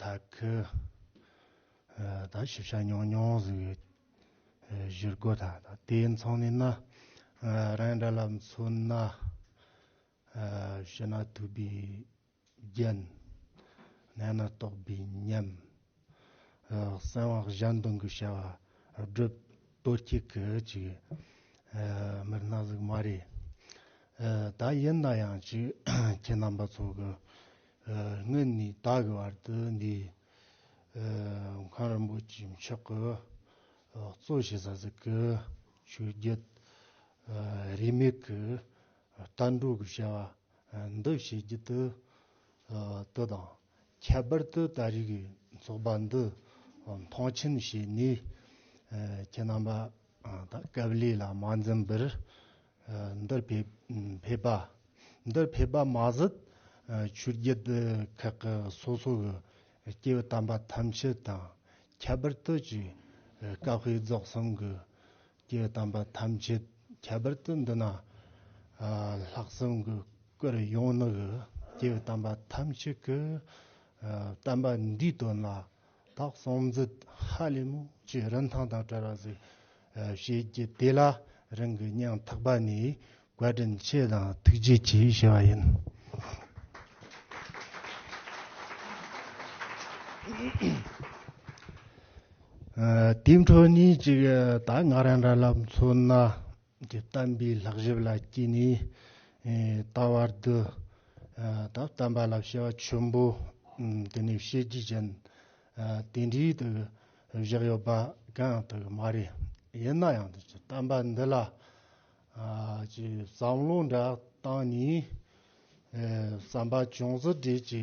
ད་ཁི་ད་ཞིབ་ཆ་ཉུང་ཉུང་ཟིག་ཡོད་གཞིར་དགོས་ད་ད་དེའི་མཚང་ནས་ན་རང་འདྲ་ལ་མཚོན་ན་ཕྱི་ན་ཐུབ་པའི་རྒྱན་གནས་ན་རྟོགས་པའི་ཉམས། གསང་བ་གཞན་དོན་གྱི་བྱ་བ་སྒྲུབ། ལྟོ་སྐྱིད་ཀྱི་ཅིག། མེར་སྣ་གཟུགས་མ་རེ། ད་ཡིན་ན་ཡང་ཅིག། ཁྱེད་རྣམ་པ་ཚོ་གི། སྔོན་ནས་ད་གི་བར་དུ་འདི། མཁའ་རིན་པོ་ཆེའི་མཆོག་གི། གཙོ་བྱས་ས་ཟིག་གི། ཆོས་བརྒྱུད། རིས་མེད་ཀྱི། ལྟ་འགྲོ་གི་བྱ་བ། འདི་བྱེད་རྒྱུ་དུ། ལྟོས་དང། ཁྱད་པར་དུ་ད་རིགས་ཚོགས་པ་འདི་མཐོང་ཆེན་བྱས་ནས་ཁྱེད་རྣམ་པ་དང་སྐབས་ལས་ལ་མ་འཛེམས་པར་འདིར་ཕེབས་པ། འདིར་ཕེབས་པ་མ་ཟད་ཆོས་བརྒྱུད་ཁག་གི་སོ་སོ་གི་སྐྱེ་བོ་དམ་པ་ཐམས་ཅད་དང་ཁྱད་པར་དུ་ཀྱི་བཀའ་བྷེ་རྫོགས་གསུམ་གྱི་ཀྱི་གདམས་པ་ཐམས་ཅད་ཁྱད་པར་དུ་འདི་ན་ལྷག་བསམ་གྱི་སྐུར་ཡོངས་ནི་གི་ཀྱི་གདམས་པ་ཐམས་ཅད་ཀྱི་བསྟན་པ་འདིའི་དོན་ལ་དག་གསང་མཛད་ཧ་ལས་མོ་ཀྱི་རིན་ཐང་དང་བྲལ་བ་ཟིག་བྱེད་ཀྱི་དེ་ལ་རིང་གི་སྙིང་ཐག་པ་ནས་བཀའ་དྲིན་ཆེ་དང་ཐུགས་རྗེ་ཆེ་ཞེས་པ་ཡིན། དེའི་འཕྲོ་གཉིས་གཅིག་ད་སྔ་རང་འདྲ་ལབ་མཚོན་ན་གྱི་གཏམ་པའི་ལྷག་ཞིབ་ལ་བསྐྱིས་ནས་ད་བར་དུ་ད་གཏམ་པ་ལ་བྱ་བ་ཆེན་པོ་དེ་ནས་བྱེད་རྒྱུ་ཅན་དེ་འདྲའི་དུ་བཞག་ཡོད་པ་གང་ཡང་དུ་མ་རེད་ཡིན་ན་ཡང་གཏམ་པ་འདི་ལ་ཀྱི་བསམ་བློ་འདྲ་བཏང་ནས། བསམ་པ་ཅུང་ཟད་བྲེལ་གྱི་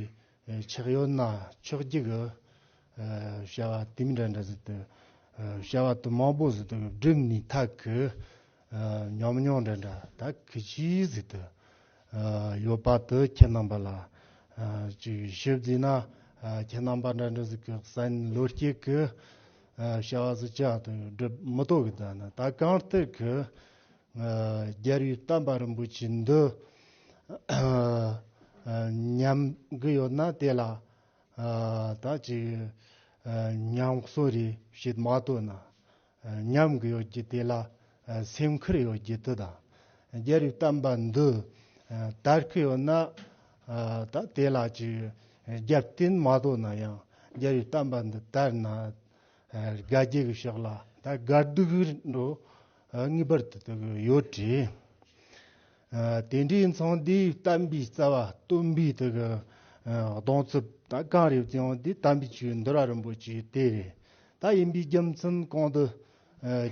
ཆགས་ཡོད་ན་ཆོག་གི་གི། བྱ་བ་དེབ་འདྲ་འདྲ་ཟེར་དུས། བྱ་བ་དེབ་མང་པོ་ཟེར་དུས་སྒྲིབ་ནས་ཐག་གི། ཉམས་མྱོང་འདྲ་འདྲ་ད་གི་གྱིས་ཟེར་དུས། ཡོད་པ་དེ་ཁྱེད་རྣམ་པ་ལ། ཞིབ་བརྩིས་ན་ཁྱེད་རྣམ་པ་འདྲ་འདྲ་ཟེར་གི་བསམ་བློ་སྐྱེས་གི། བྱ་བ་ཟིལ་ཆགས་དང་སྒྲིབ་མི་དོག་གི་དོན་ནི་ད་གང་ལྟར་གྱི། རྒྱལ་བའི་བསྟན་པ་རིན་པོ་ཆེ་འདི། ཉམས་གི་ཡོད་ན་དེ་ལ། ད་ཅི། ཉམས་གསོ་རེ་བྱེད་མ་ཐུབ་ན། ཉམས་གི་ཡོད་ཀྱི་དེ་ལ་སེམས་ཁུར་ཡོད་རྒྱུ་དེ་དང། རྒྱལ་རིགས་བལྟམས་པ་འདི་ལྟར་ཁུར་ཡོད་ན། ད་དེ་ལ་ཅིག་རྒྱབ་བརྟེན་མ་དོ་ན་ཡང་རྒྱལ་རིགས་བལྟམས་པ་འདི་ལྟར་ན། དགའ་སྐྱིད་ཀྱི་ཕྱོགས་ལ་ད་དགའ་སྡུག་འགྲོ་ངེས་པར་དུ་དེ་གོ་ཡོད་དྲི། དེ་འདྲའི་མཚང་འདི་བལྟམས་པའི་རྩ་བ་སྟོན་པའི་དེ་གི་གདོང་ཚུལ་ད་གང་རེད་ཀྱང་དེ་བལྟམས་པའི་ཆོས་འདི་ར་རིན་པོ་ཆེ་དེ་རེད་ད་ཡིན་པའི་རྒྱུ་མཚན་གང་དུ་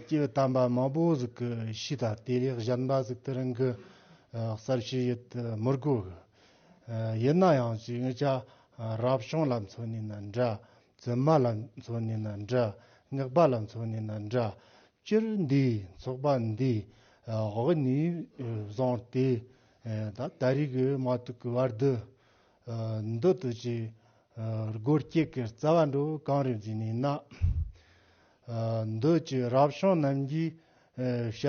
ཀྱི་དམ་པ་མང་པོ་ཟིག་གི་ཤི་ད་དེ་ལས་གཞན་པ་ཟིག་དེ་རིང་གི་གསར་ཤི་ཡི་ཏི་མི་དགོས་གི། ཡིན་ན་ཡང་ཅི་ངེད་ཅག་རབ་བྱུང་ལ་མཚོན་ནས་ན་འདྲ་བཙུན་མ་ལ་མཚོན་ནས་ན་འདྲ་སྔགས་པ་ལ་མཚོན་ནས་ན་འདྲ་སྤྱིར་འདིའི་ཚོགས་པ་འདི་དབུ་ནས་བཟུང་སྟེ་ད་ལྟ་རིག་གི་མ་ཐུག་གི་བར་དུ་འདི་དུས་ཀྱི་སྒོར་སྐྱེས་ཀྱི་རྩ་བ་འགྲོ་གང་རེ་འཛིན་ནས་ན། མདོས་ཀྱི་རབ་བྱུང་རྣམས་ཀྱིས་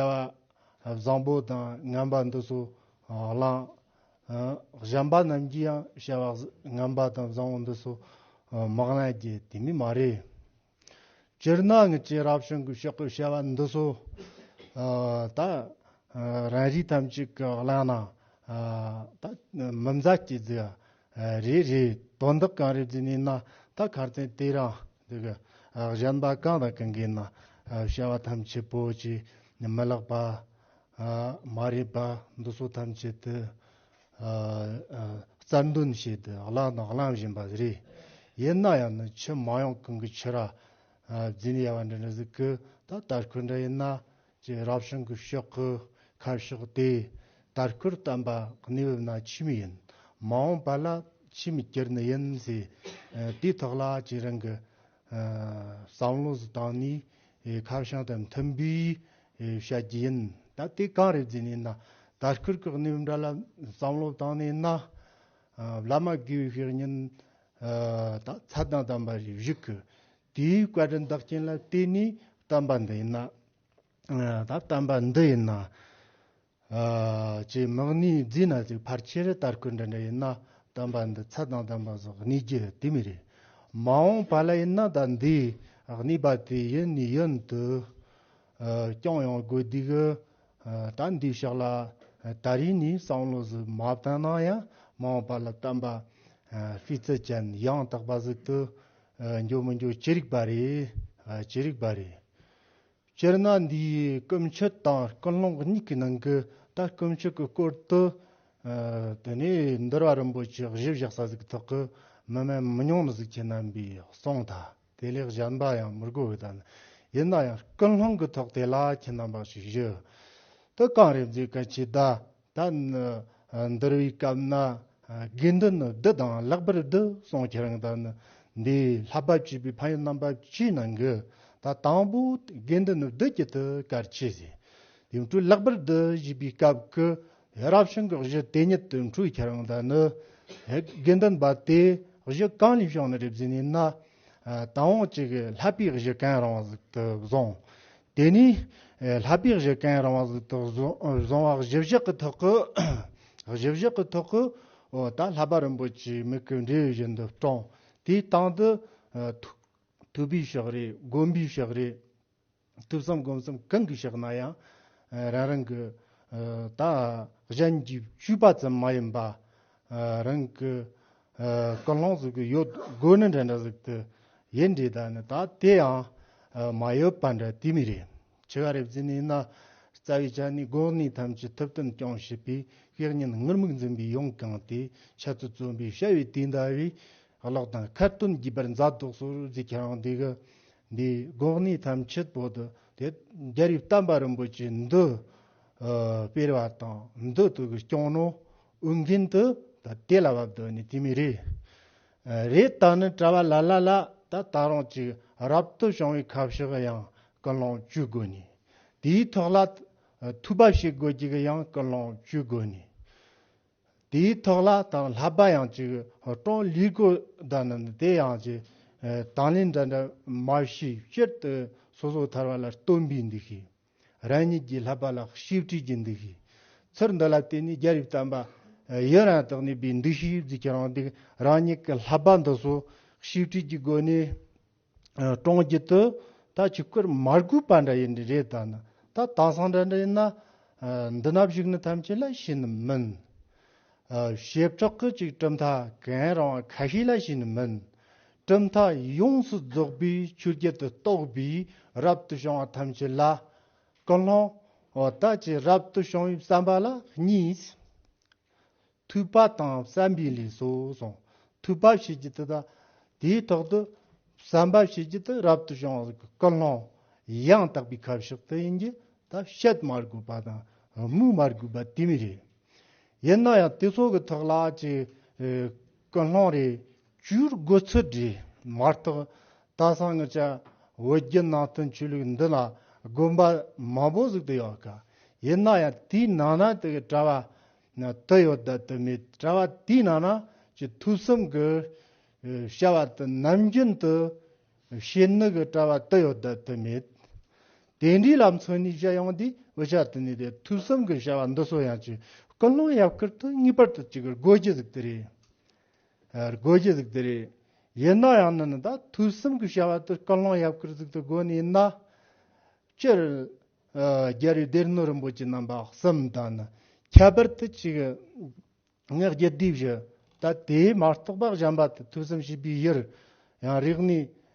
བྱ། བཟང་པོ་དང་ངན་པ་འདི་སོགས་བླང། གཞན་པ་རྣམས་ཀྱིས་ཡང་བྱ། ངན་པ་དང་བཟང་པོ་འདི་སོགས་མི་བླང་རྒྱུ་དེ་ནི་མ་རེད། སྤྱིར་ན་ངེད་ཀྱི་རབ་བྱུང་གི་ཕྱོགས་ཀྱི་བྱ་བ་འདི་སོགས་དག་རང་རིགས་ཐམས་ཅད་ཀྱིས་བླངས་ན། མི་མཛའ་སྐྱེ། རེད་རེད་དོན་དག་གང་རེད་ཅེས་ནས་ན་ད་གར་བསྟན་དེ་རང་འདི་གི་གཞན་པ་གང་དང་གང་གིས་ན་བྱ་བ་ཐམས་ཅད་པོ་ཅི་མི་ལགས་པ། མ་རེད་པ་འདི་ཚོ་ཐམས་ཅད་དུ་རྩར་འདོན་བྱས་ཏེ་བླངས་དང་བླངས་བཞིན་པ་རེད་ཡིན་ན་ཡང་ནི་ཕྱི་མ་ཡོང་གང་གི་ཕྱིར་ར་འཛིན་ཡ་བ་འདྲ་འདྲ་ཟིག་གི་ད་ལྟར་ཁོས་འདྲ་ཡིན་ན་ཅེས་རབ་བྱུང་གི་ཕྱོགས་ཀྱི་ཁ་ཕྱོགས་དེ་ལྟར་སྐུར་བསྟན་པ་གནས་བབས་ན་ཁྱིམ་ཡིན། མ་འོངས་པ་ལ་ཁྱིམ་སྐྱེར་ནི་ཡིན་ཟེར། དུས་ཐོག་ལ་ཁྱེད་རང་གི་བསམ་བློ་གཟི་དང་ནི་ཁ་བྱང་དང་མཐུན་པའི་བཤད་རྒྱུ་ཡིན། ད་དེ་གང་རེད་ཟེར་ནས་ན་ད་སྐུར་གྱི་གནས་བབས་འདྲ་ལ་བསམ་བློ་བཏང་ནས་ན། བླ་མ་དགེ་བའི་བཤེས་གཉེན་ད་ཚ་དང་དམ་པ་བཞུགས། དེའི་བཀའ་དྲིན་བདག་བསྐྱེད་ལ་བརྟེན་ནས་བསྟན་པ་འདི་ཡིན། བསྟན་པ་འདི་ཡིན། ཅེས་དམག་ནི་རྫས་ན་ཅིག་ཕར་ཆེར་བསྟར་ཁུལ་འདི་འདྲ་ཡིན་ན་བསྟན་པ་འདི་ཚད་དང་ལྡན་པ་སོགས་གནས་རྒྱུ་དེ་མི་རེད། མ་འོངས་བར་ལ་ཡིན་ན་ད་འདིའི་གནས་པ་དེ་ཡིན་ནི་ཡིན་དུ་རྐྱང་ཡང་དགོས་འདུག་ད་འདིའི་ཕྱག་ལ་ད་རེས་ནས་བསམ་བློ་ཟིག་མ་བཏང་ན་ཡང་མ་འོངས་པར་ལ་བསྟན་པ་སྤུས་ཚད་ཅན་ཡང་དག་པ་ཟིག་ཏུ་འགྱུར་མི་འགྱུར་ཅི་རིགས་པ་རེ། ཅི་རིགས་པ་རེ། སྤྱིར་ན་འདིའི་སྐུ་མཆེད་དང་ཀུན་སློང་གཉིས་ཀྱི་ནང་གི་ད་སྐུ་མཆེད་ཀྱི་སྐོར་དུ། དེ་ནས་འདུལ་བ་རིན་པོ་ཆེ་བཞི་བཞག་ས་ཟིག་ཐོག་གི་མི་མེད་མི་མྱོང་ནི་གཟུགས་ཅན་རྣམ་པའི་གསུང་དང་དེ་ལས་གཞན་པ་ཡང་མི་དགོས་པའི་དང། ཡིན་ན་ཡང་ཀུན་སློང་གི་ཐོག་དེ་ལ་ཁྱེད་རྣམ་པ་ཞིག་བཞུགས། དུ་གང་རེ་མཛད་དཀའ་ཆེ་ད། ད་ནི་འདིར་བའི་སྐབས་ན་དགེ་འདུན་བདུད་དང་ལེགས་པར་བསྡུ་གསུང་ཁྱེད་རང་དང་ནི་འདིའི་ལྷ་བབས་བྱེད་པའི་ཕ་ཡུལ་རྣམ་པ་བཅུའི་ནང་གི་ད་དང་པོ་དགེ་འདུན་བདུད་ཀྱི་ཐུགས་ཀར་ཆས་བཞི་ཡུམ་དྲུག་ལེགས་པར་བསྡུ་བཞེས་པའི་སྐབས་ཀྱི་རབ་བྱུང་གི་གཞི་དེ་ཉིད་དུ་འཁྲུགས་ཁྱེད་རང་དང་ནི་དགེ་འདུན་པ་དེ་གཞི་གང་ལས་བྱུང་ནས་རེ་བཟི་ནས་ན་དང་བོ་གཅིག་ལྷ་པའི་གཞི་གང་རང་དུ་བཟུང་དེ་ནས་ལྷ་དཔེ་བཞི་བཀན་རང་བ་དག་བཟུང་བ་བཞི་བཞག་གི་ཐོག་གི། བཞི་བཞག་གི་ཐོག་གི། དང་ལྷ་པ་རིན་པོ་ཆེའི་མིག་གི་འབྲས་བཞིན་དུ་བཀྲོངས། དེའི་སྟེང་དུ། ཐུབ་པའི་ཕྱག་རས་བསྒོམ་པའི་ཕྱག་རས། ཐུབ་བསམ་བསྒོམ་བསམ་གང་གིས་བྱས་ན་ཡང། རང་རང་གི། གཞན་གྱིས་བཤུས་པ་ཙམ་མ་ཡིན་པ། རང་གི་སྐུ་ལྷང་ཟུག་གི་ཡོད་དགོས་ནི་འདྲ་འདྲ་ཟིག་ཏུ་ཡིན་འདྲའི་ད་ནི་ད་དེ་ཡང་མ་ཡོད་པ་འདྲ་དེ་མི་རེད་ཆི་ཀ་རེ་བརྫི་ནས་ན་རྩ་བའི་ཆ་ནས་དགོས་ངེས་ཐམས་ཅད་ཐུབ་བསྟན་སྐྱོང་བྱེད་པའི་གེགས་ཉེན་ངུར་སྨུག་འཛིན་པའི་ཡོངས་གང་དེ་ཆེད་དུ་བརྩོན་པའི་བྱ་བའི་དུས་འདའ་བའི་གླགས་དང་ཁ་བཏོན་བགྱིས་པར་མཛའ་གྲོགས་སོར་བརྫི་ཁྱེད་རང་འདི་གི་འདི་དགོས་ངེས་ཐམས་ཅད་བོད་དུ་དེ་རྒྱལ་རིགས་བསྟན་པ་རིན་པོ་ཆེ་འདི་སྤེལ་བ་དང་འདི་དུ་གི་སྐྱོང་ནོ་དབུགས་འབྱིན་དུ་ད་དེ་ལ་བབ་དོ་ནི་ཅི་མི་རིགས། རེས་ད་ནི་བཀྲ་བ་ལ་ལ་ལ་ད་ད་རང་ཅིག་རབ་ཏུ་བྱུང་བའི་ཁབ་ཞིག་གི་ཡང་ཀུན་སློང་བཅུ་དགོས་ནི། དེའི་ཐོག་ལ་ཐུག་པ་ཞིག་དགོས་ཅིག་གི་ཡང་ཀུན་སློང་བཅུ་དགོས་ནི། དེའི་ཐོག་ལ་དང་ལྷ་པ་ཡང་ཅིག་སྤྲང་ལུས་དགོས་ད་ནི་དེ་ཡང་ཅིག་དང་ལེན་འདྲ་འདྲ་མ་ཞིག་སྤྱིར་དུ་སོ་སོ་ཐར་བ་ལ་སྟོན་པའི་འདུ་ཤེས། རང་ཉིད་ཀྱི་ལྷག་པ་ལ་ཤེས་བྲིས་ཀྱི་འདུ་ཤེས་ཚུར་འདི་ལ་བརྟེན་ནས་རྒྱ་རིགས་དམ་པ་ཡི་རང་དག་ནུས་པའི་འདུ་ཤེས་བརྫུས་ཀྱི་རང་སྡིག་རང་ཉིད་ཀྱི་ལྷག་པ་འདི་སོ་ཤེས་བྲིས་ཀྱི་སྒོ་ནས་བཀྲོངས་རྒྱུ་དེ་ད་ཆོས་ཀར་མར་སྒུག་པ་འདྲ་ཡིན་རེད་ད་ནི་ད་དེང་སང་འདྲ་འདྲ་ཡིན་ན་འདི་ན་བཞུགས་ནི་ཐམས་ཅད་ལ་ཤེས་ནི་མིན། ཞེས་ཁྲག་ཁུ་གཅིག་གྲུབ་མཐའ་གན་རང་བ་ཁ་ཤས་ལ་ཤེས་ནི་མིན། གྲུབ་མཐའ་ཡོངས་སུ་རྫོགས་པའི་ཆོས་བརྒྱད་དུ་གཏོགས་པའི་རབ་ཏུ་བྱུང་བ་ཐམས་ཅད་ལ། ཀུན་སློང་དག་ཅིང་རབ་ཏུ་བྱུང་བའི་བསམ་པ་ལ་གཉིས། ཐོས་པ་དང་བསམ་པའི་ལས་སོ་གསུངས། ཐོས་པ་བྱེད་ཀྱི་དེ་དང་དེའི་ཐོག་ཏུ། བསམ་པ་བྱེད་ཀྱི་དེ་རབ་ཏུ་བྱུང་བ་ཀུན་སློང་ཡང་དག་པའི་ཁ་ཕྱོགས་དེ་ཡིན་གྱི་ད་བཤད་མ་དགོས་པ་དང་སྨོས་མ་དགོས་པ་དེ་མི་རེད། ཡིན་ན་ཡང་དེ་ཚོ་གི་ཐོག་ལ་ཅི་ཀུན་སློང་རེད་བཅུར་དགོས་ཚུལ་བྲིས་མ་རྟགས་ད་སང་ངི་ཅག་འོད་བརྒྱུད་ནང་དོན་ཆོས་ལུགས་འདི་ལ་དགོན་པ་མང་པོ་གཟིགས་དུ་ཡོད་དཀའ་ཡིན་ན་ཡང་དེའི་ནང་ན་དེ་གི་གྲྭ་བ་དི་ཡོད་དད་དི་མེད་གྲྭ་བ་དེའི་ནང་ན་ཀྱི་ཐུགས་གསུམ་གི་བྱ་བ་དི་ནམ་རྒྱུན་དུ་བྱེད་ནི་གི་གྲྭ་བ་དི་ཡོད་དད་དི་མེད་དེ་འདྲའི་ལམ་སོན་ནི་བྱ་ཡང་དེའི་འོད་ཆ་དི་ནི་དེ་ཐུགས་གསུམ་གི་བྱ་བ་འདི་སོ་ཡང་ཀྱི་ཀུན་སློང་ཡབ་ཁུར་དུ་ངེས་པར་དུ་ཅི་གི་དགོས་ཀྱི་གཟིགས་དི་རེད། རྒོད་ཀྱི་གཟུགས་དེ་རེད། ཡིན་ན་ཡང་ནི་ནི་ད་དུས་གསུམ་གྱི་བྱ་བ་དེར་སྐུ་གླང་ཡབ་ཀྱི་གཟུགས་དེ་བགོས་ནས་ཡིན་ན། སྤྱིར། རྒྱལ་བའི་སྡེ་སྣོད་རིན་པོ་ཆེ་རྣམ་པ་གསུམ་དང་ནི་ཁྱད་པར་དུ་གཅིག། ངེད་རྒྱུད་སྡེའི་བཞི། ད་དེའི་མ་གཏོགས་པ་གཞན་པ་དེ་དུས་གསུམ་བྱིས་པའི་བཞིར་ཡང་རིགས་ནས།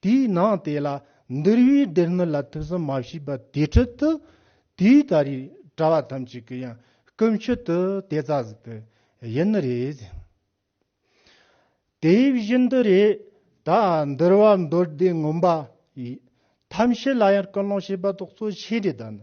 དེའི་ནང་དེ་ལ་འདུལ་བའི་སྡེར་མི་ལ་ཐུགས་བསམ་མ་བྱས་པ་དེའི་ཁྲོད་དུ། དེའི་ལྟ་རེ་གྲྭ་བ་ཐམས་ཅད་ཀྱི་ཡང་སྐུ་མཆེད་དུ་དེ་རྩ་ཟིན་དུ་ཡིན་ནི་རེད། དེ་བཞིན་དུ་རེ་ད་འདུལ་བ་མདོ་སྡེ་ངོམ་པ་ཡི་ཐམས་ཅད་ལ་ཡང་སྐུ་སློང་བྱས་པ་ཐོག་གཙོ་ཆེ་རེ་ད་ནི་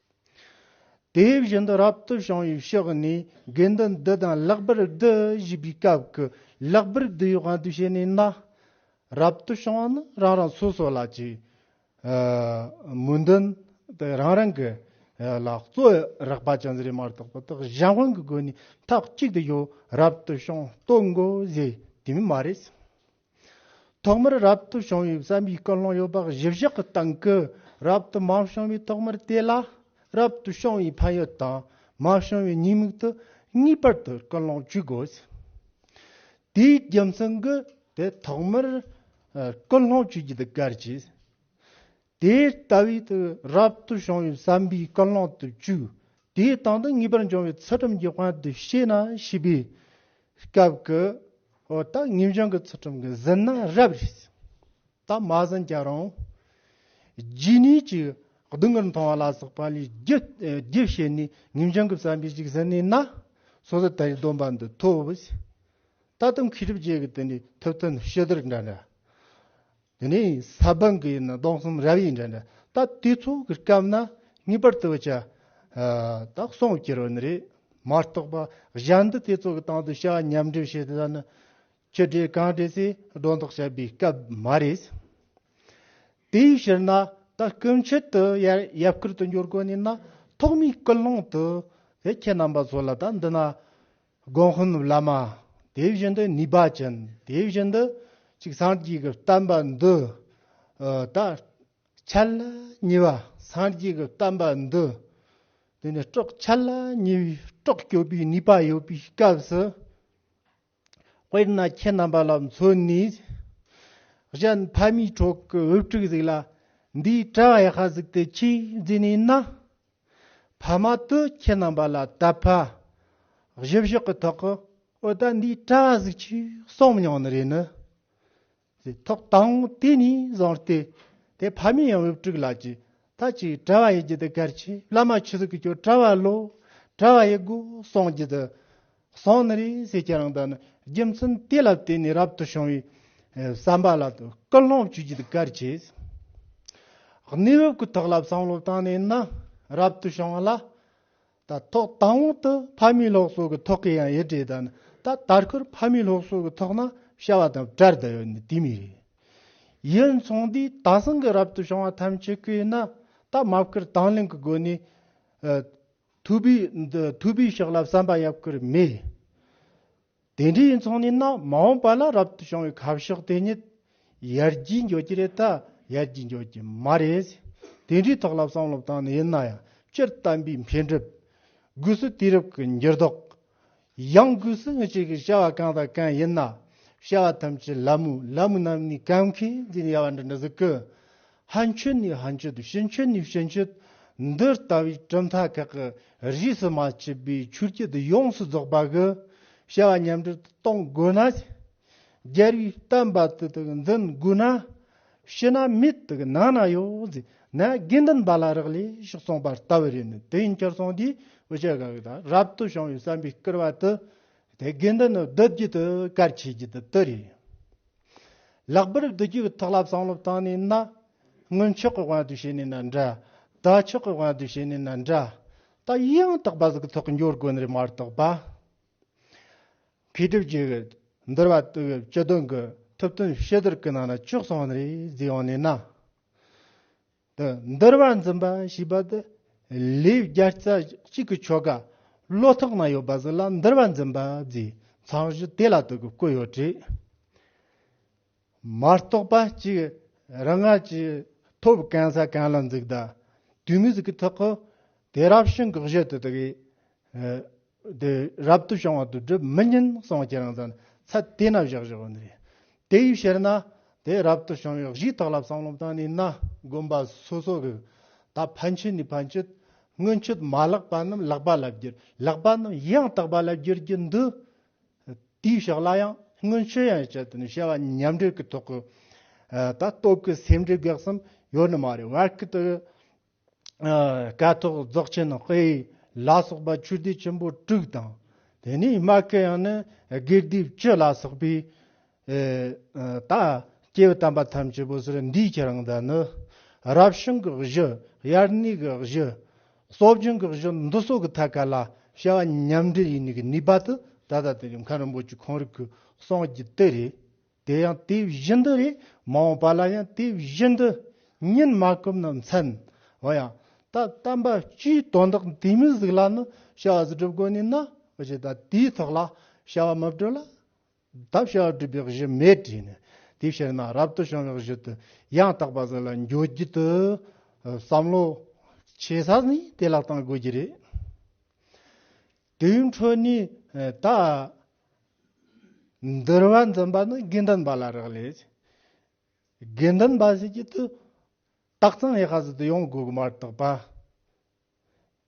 དེ་བཞིན་དུ་རབ་ཏུ་བྱུང་བའི་ཕྱོགས་ནས་དགེ་འདུན་བདུད་དང་ལྷག་པར་བདུད་བཞི་པའི་སྐབས་ཀྱི་ལྷག་པར་བདུད་ཡོད་དབང་དུ་བྱས་ནས་ན། རབ་ཏུ་བྱུང་བ་ནི་རང་རང་སོ་སོ་ལ་ཅིག། མུན་འདུན་དེ་རང་རང་གི་ལ་གཙོ་རགས་པ་ཅན་རེ་མར་དག་པ་དག་གཞན་དབང་གི་སྒོ་ནས་མཐའ་གཅིག་ཏུ་ཡོད་རབ་ཏུ་བྱུང་ལྟོ་འགོ་བཟས་དེ་མིན་མ་རེད། ཐོག་མར་རབ་ཏུ་བྱུང་བའི་བསམ་པའི་ཀུན་སློང་ཡོད་པ་བཞི་བཞག་གི་སྟེང་གི་རབ་ཏུ་མ་བྱུང་བའི་ཐོག་མར་དེ་ལ་རབ་ཏུ་བྱུང་བའི་ཕན་ཡོད་དང་མ་བྱུང་བའི་ཉེས་དམིགས་དུ་ངེས་པར་དུ་ཀུན་སློང་བཅུ་དགོས། དེའི་རྒྱུ་མཚན་གྱིས་དེ་ཐོག་མར་ཀུན་སློང་བཅུ་བརྒྱད་བཀར་གྱི། དེ་ལྟ་བུའི་དུས་རབས་དུ་བྱུང་བའི་བསམ་པའི་ཀུན་སློང་དུ་བཅུག། དེའི་སྟེང་དུ་ངེས་པར་འབྱུང་བའི་ཚུལ་ཁྲིམས་ཀྱི་དབང་དུ་བྱས་ན་ཞེས་པའི་སྐབས་ཀྱི་འོད་དག་ངེས་འབྱུང་གི་ཚུལ་ཁྲིམས་ཀྱི་ཟིན་ན་རབ་རིབ་ཟིན། ད་མ་ཟིན་ཀྱང་རུང། རྗེས་ནས་ཀྱི་སྡུག་བསྔལ་མཐོང་བ་ལ་སོགས་པ་ལས་རྒྱུ་བྱས་ནས་ངེས་འབྱུང་གི་བསམ་པས་ཅིག་ཟིན་ནས་ན་སོ་སོ་དེའི་སྡོམ་པ་འདི་ཐོབ། ད་དུང་མཁས་གྲུབ་རྗེས་ཀྱི་དེ་ནས་ཐུབ་བསྟན་ཞི་བདེར་འདྲ་འདྲ། དེ་ནས་ས་བོན་གྱི་ནི་སྟོང་གསུམ་རབ་ཡིན་དྲན། ད་དུས་ཚོད་ཀྱི་སྐབས་ན་ངེས་པར་དུ་བྱ། དག་སོང་བསྐྱེད་རོ་ནི་རེ། མ་རྟོགས་པ་གཞན་དུ་དུས་ཚོད་ཀྱི་སྟེང་དུ་བྱ་ཉམས་འགྲིབ་བྱེད་དེ་དག་ནི། ཆུ་སྒྲིལ་གངས་སྒྲིལ་སའི་སྒྲོ་འདོགས་བྱེད་པའི་སྐབས་མ་རེད། དེའི་ཕྱིར་ན་ད་སྐུ་མཆེད་དུ་ཡབ་བསྐུལ་དུ་འགྱུར་དགོས་ནས་ན་ཐོག་མའི་སྐུལ་སློང་དུ་དེ་ཁྱེད་རྣམ་པ་ཚོ་ལ་ད་འདི་ན། དགོན་དཔོན་ནུབ་བླ་མ་དེ་བཞིན་དུ་ནུས་པ་ཅན་དེ་བཞིན་དུ་ཅིག་སངས་རྒྱས་ཀྱི་བསྟན་པ་འདི་དག་འཆད་ལ་ཉེ་བ་སངས་རྒྱས་ཀྱི་བསྟན་པ་འདི་དེ་ནས་སྤྲོ་འཆད་ལ་ཉེ་བའི་སྤྲོ་སྐྱོབ་པའི་ནུས་པ་ཡོད་པའི་སྐབས་སུ་དཔེར་ན་ཁྱེད་རྣམ་པ་ལ་མཚོན་ནས་གཞན་ཕ་མའི་གྲོགས་ཀྱི་དབུ་སྤྲུག་ཟིག་ལ་འདིའི་གྲྭ་ཡ་ཤ་ཟིག་དེ་ཆོས་འཛིན་ནས་ན། ཕ་མ་དུ་ཁྱེད་རྣམས་པ་ལ་ད་ཕ། བཞི་བཞག་གི་ཐོག་གི་ཨོ་ད་འདིའི་གྲྭ་བ་ཟིག་ཆུ་སྲང་མི་ཉོ་ནི་རེད་ནི། ཟེར་ཐོག་དང་དེ་ནས་བཟང་སྟེ་དེ་ཕ་མེས་ཡང་དབུ་དཀྲུག་ལགས་ཀྱི་ད་ཅི་གྲྭ་བ་ཡིན་རྒྱུ་དེ་གལ་ཆེ་བླ་མ་ཆུ་ཟིག་གི་ཁྱོད་གྲྭ་བ་ལོ་གྲྭ་བ་ཡིན་དགོས་གསུངས་རྒྱུ་དེ་གསང་ནི་རིང་བསྲེལ་ཁྱེད་རང་དག་ནི་རྒྱུ་མཚན་དེ་ལ་བརྟེན་ནས་རབ་ཏུ་བྱུང་བའི་བསམ་པ་ལ་སྐུལ་སློང་བྱེད་རྒྱུ་དེ་གལ་ཆེ། གནས་བབ་ཀྱི་ཐོག་ལ་བསམ་བློ་བཏང་ནས་ན་རབ་ཏུ་བྱུང་བ་ལ་ད་ཐོག་དང་པོ་དུ་ཕ་མའི་སློབ་གསོ་གི་ཐོག་གི་ཡང་ཡི་གྲས་དག་ནི་ད་དར་ཁུར་ཕ་མའི་སློབ་གསོ་གི་ཐོག་ན་བྱ་བ་དང་བྲལ་དུ་ཡོད་ནི་དེ་མི་རེད། ཡིན་མཚུངས་དེ་དག་སང་གི་རབ་ཏུ་བྱུང་བ་ཐམས་ཅད་ཀྱིས་ན་ད་མ་བསྐུལ་དང་ལེན་གྱི་སྒོ་ནས་ཐུབ་པའི་ཐུབ་པའི་ཕྱག་ལ་བསམ་པ་ཡབ་ཀྱིར་མེད། དེ་འདྲའི་མཚུངས་ནི་ནགས་མ་འོངས་པ་ལ་རབ་ཏུ་བྱུང་བའི་ཁ་ཕྱོགས་དེ་ཉིད་ཡར་རྒྱས་འགྱུར་གྱི་རེད་ད་ཡར་རྒྱས་འགྱུར་གྱི་མ་རེད། དེ་འདྲའི་ཐོག་ལ་བསམ་བློ་བཏང་ནས་ཡིན་ན་ཡང་སྤྱིར་བཏང་པའི་འཕེལ་འགྲིབ། སྒོས་སུ་དུས་རབས་ཀྱི་འགྱུར་ལྡོག་ཡང་སྒོས་སུ་སྔོན་ཆད་ཀྱི་བྱ་བ་གང་དང་གང་ཡིན་ན་བྱ་བ་ཐམས་ཅད་ལམ་མོ་ལམ་མོ་རྣམས་ནི་གང་མཁས་འདི་ནི་ཡལ་བ་འདྲ་འདྲ་ཟེར་གི། ཧ་མཆོད་ནི་ཧ་མཆོད་ཕྱི་མཆོད་ནི་ཕྱི་མཆོད། འདི་ལྟ་བུའི་གྲུབ་མཐའ་ཁག་གི་རིས་སུ་མ་ཕྱེས་པའི་ཆུ་སྐྱེས་འདི་ཡོངས་སུ་རྫོགས་པ་གི་བྱ་བ་མཉམ་འབྲེལ་དུ་གཏོང་དགོས་ན། རྒྱལ་བའི་བསྟན་པ་དེ་དག་འཛིན་དགོས་ན། ཕྱི་ན་མི་དག་ནང་ན་ཡོད་ཟེར་ན་དགེ་འདུན་པ་ལ་རག་ལས་ཤོག་གསུངས་པ་ལྟ་བུ་རེད་ནི་དེ་ཡིན་ཁྱེར་སོང་དུས་འོ་ཅོག་ག་གི་དང་རབ་ཏུ་བྱུང་བའི་བསམ་པའི་སྐུར་བ་དུ་དེ་དགེ་འདུན་ནི་བསྡུ་རྒྱུ་དུ་གར་ཆས་རྒྱུ་དུ་དུ་རེད། ལག་པར་བསྡུ་རྒྱུ་ཐོག་ལབ་བསང་ལོབ་བཏང་ནས་ན། སྔོན་ཆོག་གི་དབང་དུ་བྱས་ནས་ན་འདྲ། ད་ཆོག་གི་དབང་དུ་བྱས་ནས་ན་འདྲ། ད་ཡང་དག་པ་གཟུགས་ཐོག་འགྱུར་དགོས་ནི་མ་གཏོགས་པ། མཁས་གྲུབ་ཀྱི། འདུལ་བ་བཏུ་བའི་སྤྱི་དོན་གྱི། ཐུབ་དོན་བཤད་སྡུར་གྱི་ནང་ན་ཅུང་ཟད་རིགས་རྫས་ཡང་གནས་ན། དེ་འདུལ་བ་འཛིན་པ་ཞེས་པ་དེ། ལེའུ་བརྒྱ་རྩ་གཅིག་གི་ཆོ་ག། བློ་ཐག་ན་ཡོད་པ་ཟིན་ལ་འདུལ་བ་འཛིན་པ་རྫས། ཚང་བཞི་དེ་ལ་དུ་གི་བཀོད་ཡོད་དྲི། མ་རྟོགས་པ་གཅིག་རང་སྔ་ཕྱི་ཐོབ་གང་ས་གང་ལ་འཛུགས་ད་དུས་མི་གཟུགས་ཐོག་གོ་དེ་རབ་བྱུང་གི་གཞི་དེ་དག་གིས་རབ་ཏུ་བྱུང་བ་དུ་སྒྲུབ་མི་ཉན་གསུང་ཁྱེད་རང་ཚང་ཚ་དེ་ན་བཞག་བཞག་ནི་རེད་དེ་ཡིས་ཕྱིར་ན་དེ་རབ་ཏུ་བྱུང་བའི་གཞི་དག་ལ་བསམ་བློ་བཏང་ནས་ན་དགོན་པ་སོ་སོ་གི་ད་ཕན་ཆད་ནས་ཕན་ཆད་སྔོན་ཆད་མ་ལགས་པ་རྣམས་ལགས་པ་ལ་བསྒྱུར་ལགས་པ་རྣམས་ཡང་དག་པ་ལ་བསྒྱུར་རྒྱུ་འདི་དེའི་ཕྱག་ལ་ཡང་སྔོན་ཆོས་ཡན་ཆད་དུ་ནི་བྱ་བ་མཉམ་འབྲེལ་གྱི་ཐོག་གི་ད་སྟོབས་ཀྱི་སེམས་འགྲེལ་དགག་གསུམ་ཡོད་ནི་མ་རེད་བར་སྐད་དུ། སྐད་ཐོག་རྫོགས་ཆེན་ནི་དཔེ་ཡིས་ལ་སོགས་པ་ཆོས་སྡེ་ཆེན་པོ་དྲུག་དང། དེ་ནས་སྨྲ་མཁན་ཡང་ནི་དགེ་སྡིག་བཅུ་ལ་སོགས་པའི་ཨེ། ད་སྐྱེས་བུ་དམ་པ་ཐམས་ཅད་པོ་ཟེར་འདིས་ཁྱེད་རང་འདི་ནི། རབ་བྱུང་གི་གཞི་དབྱར་གནས་ཀྱི་གཞི། སྲོག་རྒྱུན་གྱི་གཞི་འདི་སོགས་ཀྱི་ཐད་ཀ་ལ་བྱ་བ་མཉམ་འབྲེལ་ཡིན་ནུས་ཀྱི་ནུས་པ་དེ་ད་ལྟ་དེ་ཡོངས་ཁང་རིན་པོ་ཆེ་གང་རིགས་ཀྱི་སངས་རྒྱས་དེ་རེད། དེ་ཡང་དེ་བཞིན་དུ་རེད་མ་འོངས་པ་ལ་ཡང་དེ་བཞིན་དུ་ཉིད་མ་གོམས་ན་མཚན། འོ་ཡང། ད་བསྟན་པ་སྤྱིའི་དོན་དག་འདིའི་མི་གཟུགས་ལ་ནི་བྱ་བ་གཟུགས་སྒྲུབ་དགོས་ནུས་ན། འོ་ཅི་ད་དེའི་ཐོག་ལ་བྱ་བ་མི་སྒྲུབ་ལ། བདག་ཞགས་སྒྲིབ་པའི་གཞི་མེད་བྲིས་ནས་དེ་ཤེས་ན་རབ་ཏུ་བྱུང་བའི་གཞི་དུ་ཡང་དག་པར་ཟིན་ལ་འགྱུར་བགྱིད་དུ་བསམ་ལོ། ཆེ་ས་ནི་དེ་ལ་བཏང་དགོས་ཀྱི་རེད། དེའི་འཕྲོས་ནས་ད། འདིར་བ་འཛིན་པ་ནི་དགེ་འདུན་པ་ལ་རག་ལས། དགེ་འདུན་པ་ཞིག་གིས་དུ་བརྟག་ཙམ་ཡེ་ཤེས་སུ་དུ་ཡོང་དགོས་ཀྱི་མ་གཏོགས་པ།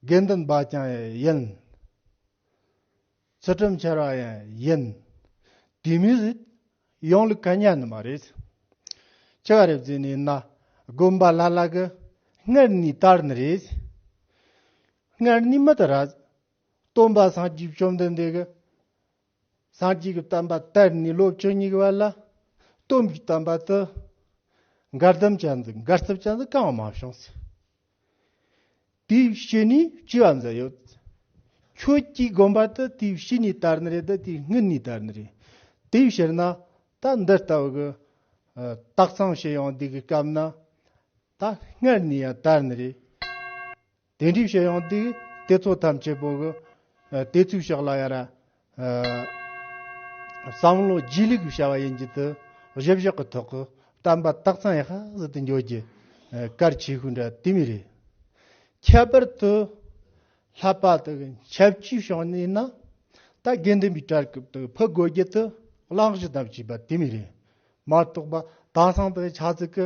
དགེ་འདུན་པ་ཀྱང་ཡིན། ཚུལ་ཁྲིམས་འཆལ་བ་ཡང་ཡིན། དུས་མིན་རེད། ཡོང་ལུགས་ག་ཉན་ནི་མ་རེད། ཅི་ག་རེ་བརྫུས་ནས་ན་དགོན་པ་ལྷ་ལྷ་གི་སྔར་ནས་ལྟར་ནི་རེད། སྔར་ནས་མི་ལྟར་ར། སྟོན་པ་སངས་རྒྱས་བཅོམ་ལྡན་འདས་ཀྱི། སངས་རྒྱས་ཀྱི་བསྟན་པ་དར་ནས་ལོ་བཅུ་གཉིས་ཀྱི་བར་ལ། གཏུམ་གྱི་བསྟན་པ་དུ་མགར་དུམ་ཅན་དང་མགར་རྩིབས་ཅན་དུ་གང་མང་བྱུང་ཚེ། དེའི་བཤེས་གཉེན་བཅུ་བ་འཛིན་ཡོད་དེ། ཁྱོད་ཀྱིས་དགོན་པ་དུ་དེའི་བཤེས་གཉེན་དར་ནི་རེད་དུ་དེའི་སྔུན་ནས་དར་ནི་རེད། དེའི་ཕྱིར་ན་ད་འདི་ལྟ་བུ་གི་སྟག་ཚང་ཞིག་ཡོང་དུས་ཀྱི་སྐབས་ན། ད་སྔར་ནས་ཡང་དར་ནི་རེད། དེ་འདྲའི་བཤད་ཡང་དེ་དེ་ཚོ་ཐམས་ཅད་པོ་གི་དེ་ཚོའི་ཕྱག་ལ་ཡ་ར་བསམ་བློ་སྒྱིད་ལུག་གི་བྱ་བ་ཡིན་རྒྱུ་དེ་བཞི་བཞག་གི་ཐོག་གི་གཏམ་པ་སྟག་ཚང་ཡ་ཧ་ཟིག་དེ་འགྱོད་ཀྱི་སྐར་ཆེ་ཤོས་འདྲ་དེ་མི་རེད། ཁྱད་པར་དུ་ལྷ་པ་དེ་གི་ཆབ་སྐྱིད་བྱང་ནས་ཡིན་ན་ད་དགེ་འདུན་པའི་གྲལ་སྐབས་དེ་ཕུ་དགོད་རྒྱུ་དེ་གླང་གཞི་དམ་བྱས་པ་དེ་མི་རེད་མ་གཏོགས་པ་དྭགས་སང་དེ་ཆ་ཚིག་གི་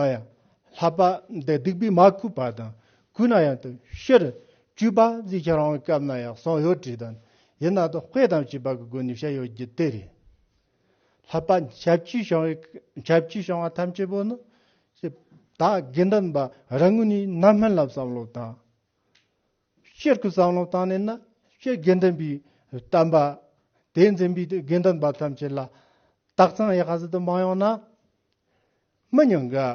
ཨ་ཡ། ལྷ་དཔའ་འདི་སྡིག་པའི་མ་གུས་པ་དང་གུས་ན་ཡང་དུ་ཤེར། བཅུས་པ་ཛི་ཁྱེད་རང་སྐབས་ན་ཡག་སོང་ཡོད་བྲིས་དང་ཡིན་ན་དོ་དཔེ་དང་བྱིས་པ་གི་སྒོ་ནས་བཤད་ཡོད་རྒྱུ་དེ་རེད། ལྷ་དཔའ་ཞབས་སྐྱིས་བྱང་བའི་ཞབས་སྐྱིས་བྱང་བ་ཐམས་ཅད་པོ་ནི། ད་དགེ་འདུན་པ་རང་ངོས་ནས་རྣམ་སྨིན་ལབ་བསམ་བློ་དང། སྤྱིར་སྐུ་གསང་སློབ་དང་ནི་ནི་སྤྱིར་དགེ་འདུན་པའི་བསྟན་པ། དེས་འཛིན་པའི་དགེ་འདུན་པ་ཐམས་ཅད་ལ། རྟགས་མཚན་ཡེ་ཤེས་དུ་མ་ཡོང་ན། མི་ཉུང་གི།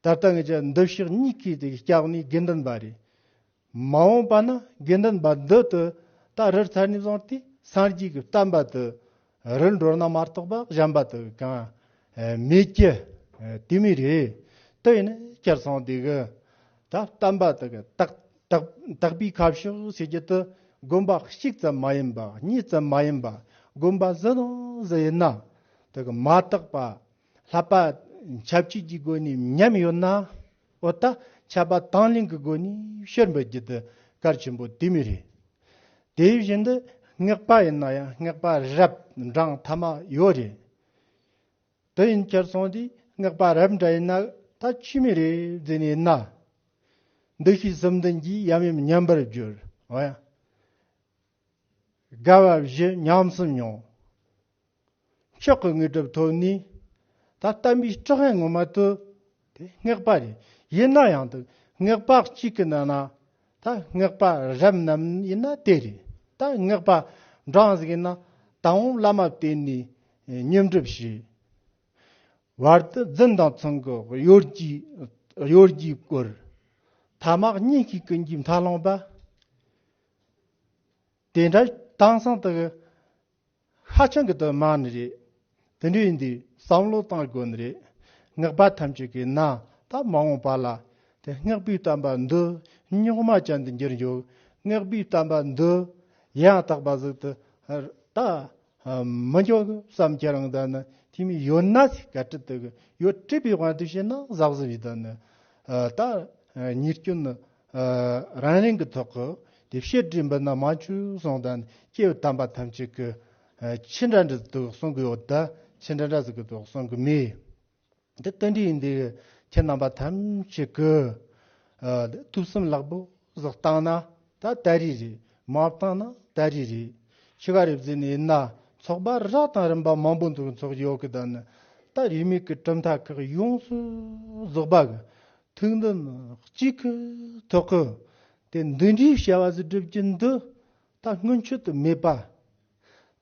ད་ལྟ་ངེད་ཀྱི་འདུ་ཤེས་གཉིས་ཀའི་སྐྱབས་ནི་དགེ་འདུན་པ་རེད། མ་འོངས་པ་ན་དགེ་འདུན་པ་འདི་དུ་ད་རིར་ཚར་ནས་བཟུང་སྟེ་སངས་རྒྱས་ཀྱི་བསྟན་པ་དུ་རི་འགྲོ་ན་མར་ཐོགས་པ་གཞན་པ་དུ་གང། མི་སྐྱེ། དུས་མི་རེ། དུས་ནི་སྐྱེར་སོང་དུས་གི། ད་ལྟ་འབའ་དུ་གི། དག་པའི་ཁ་ཕྱོགས་ཕྱེད་རྒྱུད་དུ། དགོན་པ་གཅིག་ཙམ་མ་ཡིན་པ་གཉིས་ཙམ་མ་ཡིན་པ། དགོན་པ་བཞི་དང་བཞི་ཡིན་ན། དུ་གི་མ་དག་པ། ལྷག་པར། ཆབས་ཅིག་གི་དགོན་ནས་ཉམས་ཡོད་ན། འོ་ད་ཆ་པ་དང་གླིང་གི་སྒོ་ནས་ཕྱིར་འབུད་རྒྱུ་དེ་གལ་ཆེན་པོ་དེ་མི་རེད། དེ་བཞིན་དུ་སྔགས་པ་ཡིན་ན་ཡང་སྔགས་པ་རབ་འབྲང་མཐའ་མ་ཡོད་རེད། དེ་ཡིན་ཁྱེད་ཚང་འདིས་སྔགས་པ་རབ་འབྲང་ཡིན་ན་ད་ཁྱི་མི་རེ་བརྫི་ནས་ན། འདུ་ཤེས་སུམ་ལྡན་གྱིས་ཡམ་ཡོམ་ཉམས་པར་གྱུར། དགའ་བ་བཞི་ཉམས་སུ་མྱོང། མཆོག་གི་དངོས་གྲུབ་ཐོབ་ནས། ད་ལྟ་མིའི་སྤྲོ་ངན་ངོ་མ་དུ། དེ་སྔགས་པ་རེ་ཡིན་ན་ཡང་དུ་སྔགས་པ་གཅིག་གི་ནང་ན། ད་སྔགས་པ་རབ་རྣམས་ཡིན་ན་དེ་རེད་ད་སྔགས་པ་འབྲང་གཟིགས་ཡིན་ན། ད་འོང་བླ་མ་བསྟེན་ནས་བསྙེན་བསྒྲུབ་བྱས། བར་དུ་རྫུན་དང་ཚང་གི་གཡོ་སྒྱུས་བསྐུར། ཐ་མག་གཉིས་ཤིག་གི་འཇིབ་མཐའ་བླངས་པ། དེ་འདྲ་དྭངས་སང་དུ། ཧ་ཅང་གི་དོན་སྨྲ་ནི་རེད། དེ་འདྲ་ཡིན་དུས་བསམ་བློ་གཏང་དགོས་ནི་རེད། སྔགས་པ་ཐམས་ཅད་ཀྱི་ན་ད་མ་འོངས་པ་ལ་དེ་སྔགས་པའི་གཏམ་པ་འདི་རྙོག་མ་ཅན་དུ་འགྱུར་འཇུག་སྔགས་པའི་གཏམ་པ་འདི་ཡང་དག་པ་ཟིག་ཏུ་ད་མི་འཇོག་གི་བསམ་ཁྱེད་རང་ད་ནི་དེ་མི་ཡོད་ན་ཟིག་ག་ཀྲི་དུ་གི་ཡོད་ཀྲི་པའི་དབང་དུ་བྱས་ན་ཟག་ཟིག་བྱས་ད་ནི་ད་ཉེར་སྐྱོན་ནི་རང་རིང་གི་ཐོག་གི་དེ་བཤད་སྒྲིག་འབུལ་ན་མང་ཆུ་སོང་དང་སྐྱེ་བའི་དམ་པ་ཐམས་ཅད་ཀྱི་ཕྱི་འདྲ་འདྲ་དུག་གསུང་གི་ཡོད་དེ་ཕྱི་འདྲ་འདྲ་ཟེར་གི་དུག་གསུང་གི་མེད། དེ་རྟེན་འབྲེལ་ཡིན་དུས་ཁྱེད་རྣམ་པ་ཐམས་ཅད་ཀྱི་ཐུགས་བསམ་རླབས་པོ་ཟོག་བཏང་ན་ད་ལྟ་རི་རེད་མ་བཏང་ན་ད་རི་རེད་ཕྱི་ག་རེ་བརྫི་ནས་ཡིན་ན་ཚོགས་པ་ར་དང་རིམ་པ་མང་པོ་འདུག་ཚོགས་ཡོད་གི་དང་ད་རིས་མེད་གི་གྲུབ་མཐའ་ཁག་ཡོངས་སུ་རྫོགས་པ་གི་ཐུགས་འདུན་གཅིག་གི་ཐོག་གི་དེ་འདི་འདྲའི་བྱ་བ་གཟི་སྒྲིབ་ཀྱི་འདི་ལྟ་སྔོན་ཆད་དུ་མེད་པ།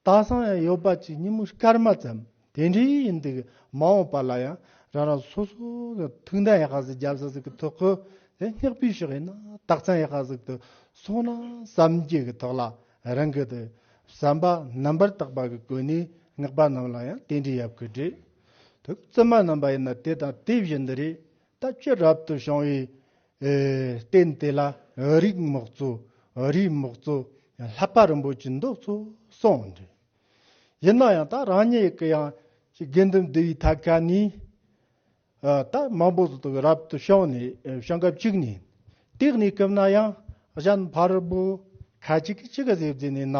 དག་སང་ཡང་ཡོད་པ་ཅིག་ཉིན་མོ་སྐར་མ་ཙམ་དེ་འདྲའི་ཡིན་འདུག་མ་འོངས་པ་ལ་ཡང་རང་རང་སོ་སོ་གི་ཐུགས་འདུན་ཡག་གཟིགས་རྒྱབ་གཟིགས་ཀྱི་ཐོག་གི་དེ་སྙེག་པའི་ཕྱོགས་ཡིན་ན་དག་སང་ཡག་གཟིགས་དུ་སོང་ན་བསམ་རྒྱུ་གི་ཐོག་ལ་རང་གི་དེ་བསམ་པ་རྣམ་པར་དག་པ་གི་གོ་གནས་སྔགས་པ་རྣམས་ལ་ཡང་དེ་འདྲའི་ཡབ་གི་སྒྲས། དེ་བཙུན་མ་རྣམས་པ་ཡིན་ན་དེ་དང་དེ་བཞིན་དུ་རེད་ད་ཁྱོད་རབ་ཏུ་བྱུང་བའི་རྟེན་དེ་ལ་རིགས་མག་གཙོ་རིས་མག་གཙོ་ལྷག་པ་རིན་པོ་ཆེ་འདུག་ཚུལ་གསུངས་འདུག་ཡིན་ན་ཡང་ད་རང་ཉིད་ཀྱི་ཡང་དགེ་འདུན་འདུས་པའི་ཐབས་ཀ་ནས་ད་མང་པོ་ཟིག་ཏུ་རབ་ཏུ་བྱུང་ནས་བྱང་སྐབས་གཅིག་ནས་སྟེགས་ནས་བསྐུམས་ན་ཡང་གཞན་ཕར་བུ་ཁ་ཅིག་གིས་གཅིག་གཟིགས་བཟོས་ནས་ན།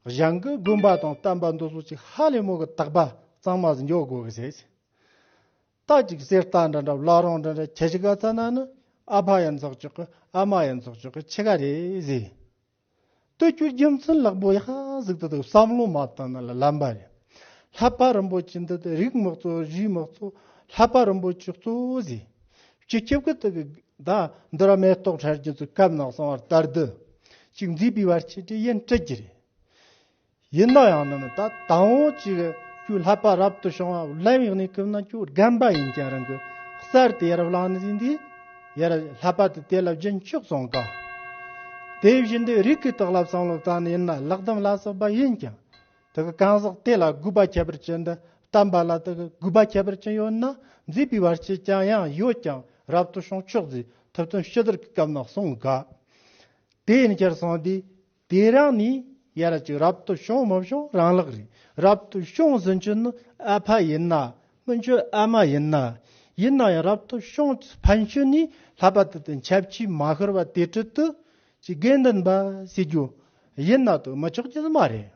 གཞང་གི་དགོན་པ་དང་བསྟན་པ་འདུ་ཚོགས་ཀྱི་ཧ་ལས་མོ་གི་བརྟག་པ་གཙང་མ་ཟིན་འཇོག་དགོས་ཀི་ཟེར། རྟ་གཅིག་གསེར་རྟ་འདྲ་འདྲ་བླ་རང་འདྲ་འདྲ་ཁྱེད་ཀྱི་ག་ཚ་ན་ནི་ཨ་ཕ་ཡང་འཛག་ཆོག་གི་ཨ་མ་ཡང་འཛག་ཆོག་གི་ཁྱེད་ག་རེ་ཟེར། སྟོད་སྐྱུར་རྒྱུ་མཚན་ལག་པོ་ཡག་ཟིག་ཏུ་འདུག་བསམ་བློ་མ་བཏང་ན་ལ་ལམ་པ་རེད། ལྷ་པ་རིན་པོ་ཆེ་འདི་དེ་རིགས་མི་གཙོ་རུས་མི་གཙོ་ལྷ་པ་རིན་པོ་ཆེ་གཙོ་ཟེར། ཅི་ཁྱབ་ཀྱི་དུག་གི་བདག། འདི་ར་མེ་ཏོག་ཁྲར་གྱུར་ཚུལ་སྐབས་ནག་སོང་བར་ལྟར་བདུད་ཅིག་འཛིན་པའི་བར་ཆད་ཀྱི་ཡན་སྤྲད་ཀྱི་རེད། ཡིན་ན་ཡང་ནི་མི་ད་ལྟ་འོང་ཅིག་ཁྱོད་ལྷག་པ་རབ་ཏུ་བྱུང་བ་བརླན་བའི་གནས་སྐབས་ན་ཁྱོད་རྒན་པ་ཡིན་ཀྱང་རང་གི་གསར་དུ་ཡར་བླངས་ནས་ཟིན་དུས་ཡར་ལྷག་པ་དེ་དེ་ལ་རྒྱུན་བཅུག་ཙང་དཀའ། དེ་བཞིན་དུ་རིགས་ཀྱི་དོགས་ལ་བསམ་བློ་བཏང་ནས་ཡིན་ན་ལག་སྡོམ་ལ་སོགས་པ་ཡིན་ཀྱང་དེ་གི་གང་ཟག་དེ་ལ་གུས་པ་ཁྱད་པར་ཅན་འདི་ལྟ་འབའ་ལ་དེ་གི་གུས་པ་ཁྱད་པར་ཅན་ཡོད་ན་མཛེས་པའི་བར་ཆད་ཀྱང་ཡང་ཡོད་ཀྱང་རབ་ཏུ་བྱུང་ཆོག་ཟེར་ཐུབ་དོན་ཤི་དར་གི་སྐབས་ན་གསུངས་ག། དེ་ཡིན་ཕྱིར་གསུངས་ཏེ། དེ་རང་ནི་ཡར་གཅིག་རབ་ཏུ་བྱུང་མི་བྱུང་རང་ལག་རེད། རབ་ཏུ་བྱུང་ཟིན་གྱི་ནི་ཨ་ཕ་ཡིན་ན་སྨིན་གྱི་ཨ་མ་ཡིན་ན། ཡིན་ན་ཡང་རབ་ཏུ་བྱུང་ཕན་ཆོད་ནས་ལྷག་པ་དེ་དང་ཁྱབ་ཆེས་མ་ཤོར་བ་དེ་ཁྲིད་དུ་ཀྱི་དགེ་འདུན་པ་བྱེད་རྒྱུ་ཡིན་ན་དུ་མ་ཆོག་རྒྱུ་དུ་མ་རེད།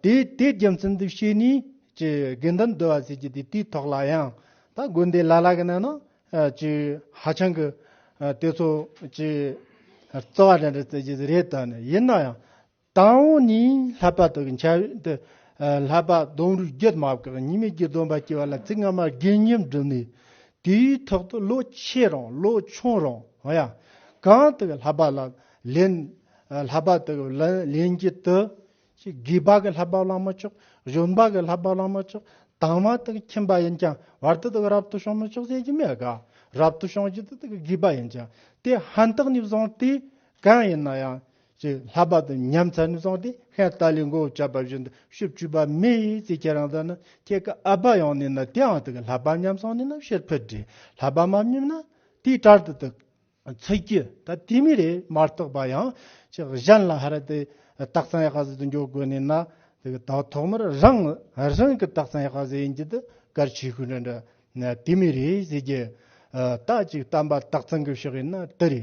དེ་དེའི་རྒྱུ་མཚན་དུ་བྱས་ནས་ཀྱི་དགེ་འདུན་བསྡུ་བ་བྱེད་རྒྱུ་དེ་དེའི་ཐོག་ལ་ཡང་ད་དགོན་སྡེ་ལ་ལ་གི་ནང་ན་ཀྱི་ཧ་ཅང་གི་དེ་ཚོ་ཀྱི་རྩོ་བ་འདྲ་འདྲ་བྱེད་རྒྱུ་རེད་དོ་ཡིན་ན་ཡང། དང་བོ་ནི་ལྷ་པ་དག་གི་འཆར་ཡན་དུ། ལྷ་པ་ལྡོང་རུས་རྒྱུད་མ་བཀག་གཉིས་མེད་ཀྱི་སྡོམ་པ་སྐྱེ་བ་ལ་ཚིག་སྔ་མ་དགེ་བསྙེན་བསྒྲུབས་ནས། དེའི་ཐོག་ཏུ་བློ་ཆེ་རང་བློ་ཆུང་རང་ཡང། གང་དག་ལྷ་པ་ལ་ལེན། ལྷ་པ་དག་གི་ལེན་བགྱིད་དུ། དགེ་བ་གི་ལྷ་པ་བླང་མི་ཆོག་གཞོན་པ་གི་ལྷ་པ་བླང་མི་ཆོག་དྭངས་མ་དག་ཁྱིམ་པ་ཡིན་ཀྱང་བར་དུ་དག་རབ་ཏུ་བྱུང་མི་ཆོག་ཟེར་གྱི་མེད་ག། རབ་ཏུ་བྱུང་བགྱིད་དུ་དག་དགེ་བ་ཡིན་ཀྱང་དེ་ཧ་འཐག་ནས་བཟུང་སྟེ་གང་ཡིན་ན་ཡང། ཅེས་ལྷག་པར་དུ་ཉམས་མཚར་ནས་བཟུང་སྟེ་ཧན་ཏཱ་ལའི་མགོ་བོ་བཅག་པ་བཞིན་དུ་ཤུབ་བཅུ་པ་མི་ཡི་ཚེ་ཁྱེད་རང་ད་ནི་ཁྱེད་ཀྱི་ཨ་ཕ་ཡང་ནས་ན་དེའང་དུ་གི་ལྷག་པར་ཉམས་སོང་ནས་ན་ཕྱིར་ཕུད་དྲི་ལྷག་པར་མ་སྙོམས་ན་དེའི་གྲར་དུ་དུ་ཚིག་གི་ད་དེ་མི་རེ་མ་རྟོགས་པ་ཡང་ཅི་གཞན་ལ་ཧ་ར་དེ་སྟག་ཚང་ཡག་ཟི་དུ་འཇོག་དགོས་ནས་ན་དུ་གི་ད་ཐོག་མར་རང་རང་གི་སྟག་ཚང་ཡག་ཟི་ཡིན་གྱི་དུ་གར་ཆས་ཤུགས་འདྲ་འདྲ་ན་དེ་མི་རེ་ཟི་གྱི་ད་ཅིག་བལྟམས་པ་སྟག་ཚང་གི་ཕྱོགས་ཡིན་ན་དུ་རེ་